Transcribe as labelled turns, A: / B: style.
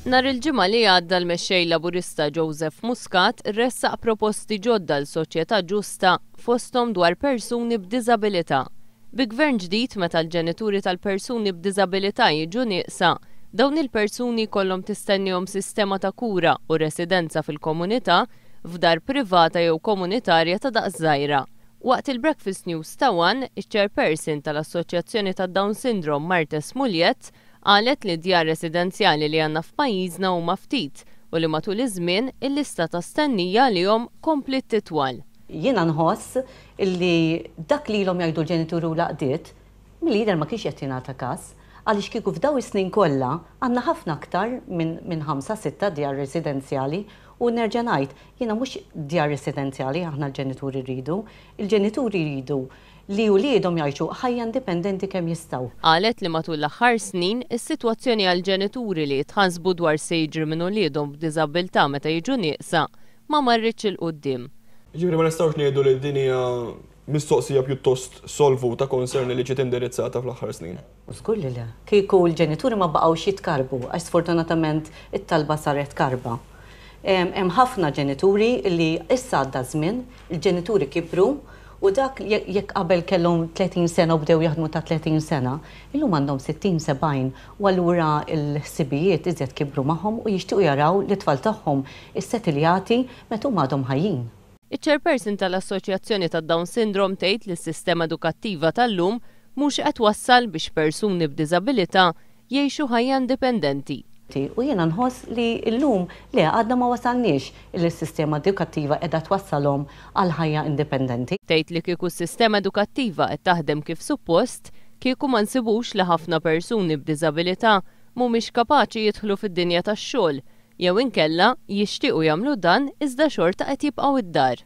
A: Nhar il-Ġimgħa li għadda l-Mexxej Laburista Joseph Muscat ressaq proposti ġodda għal soċjetà ġusta fosthom dwar persuni b'diżabilità. Bi Gvern ġdid meta l-ġenituri tal-persuni b'diżabilità jiġu nieqsa, dawn il-persuni jkollhom tistennihom sistema ta' kura u residenza fil-komunità f'dar privata jew komunitarja ta' daqs żgħira. Waqt il-Breakfast News ta' one, iċ-Chairperson tal-Assoċjazzjoni tad-Down Syndrome Marthe Smuljett qalet li d-djar residenzjali li għandna f'pajjiżna huma ftit u li matul iż-żmien il-lista ta' stennija għalihom kompliet titwal. Jiena nħoss
B: li dak li ilhom jgħidu l-ġenituri u l-għaqdiet, milli jidher ma kienx qed jingħata każ, għaliex kieku f'dawn is-snin kollha għandna ħafna aktar minn ħamsa, sitta djar residenzjali u nerġa' ngħid, Jiena mhux djar residenzjali aħna l-ġenituri rridu. Il-ġenituri jridu li uliedhom jgħixu ħajja indipendenti kemm jistgħu. Qalet li matul l-aħħar
A: snin, is-sitwazzjoni għal ġenituri li jitħassbu dwar x'se jiġri minn uliedhom b'diżabbiltà meta jiġu nieqsa ma marritx 'il quddiem. Jiġifieri ma nistgħux
C: ngħidu li din hija mistoqsija pjuttost solvuta, concern li ġiet indirizzata fl-aħħar snin. U żgur li le.
B: Kieku l-ġenituri ma baqgħux jitkarrbu, għax sfortunatament it-talba saret karba. Hemm ħafna ġenituri li issa għadda ż-żmien, il-ġenituri kibru u dak jekk qabel kellhom 30 sena u bdew jaħdmu ta' 30 sena, illum għandhom 60, 70 u allura l-ħsibijiet iżjed kibru magħhom u jixtiequ jaraw lit-tfal tagħhom issetilljati meta huma għadhom ħajjin. Iċ-Chairperson
A: tal-Assoċjazzjoni tad-Down Syndrome tgħid li s-sistema edukattiva tal-lum mhux qed twassal biex persuni b'diżabilità jgħixu ħajja indipendenti. U jiena
B: nħoss li llum le għadna ma wasalniex illi s-sistema edukattiva qiegħda twassalhom għal ħajja indipendenti. Tgħid li kieku s-sistema
A: edukattiva qed taħdem kif suppost, kieku ma nsibux li ħafna persuni b'diżabilità mhumiex kapaċi jidħlu fid-dinja tax-xogħol jew inkella jixtiequ jagħmlu dan iżda xorta qed jibqgħu d-dar.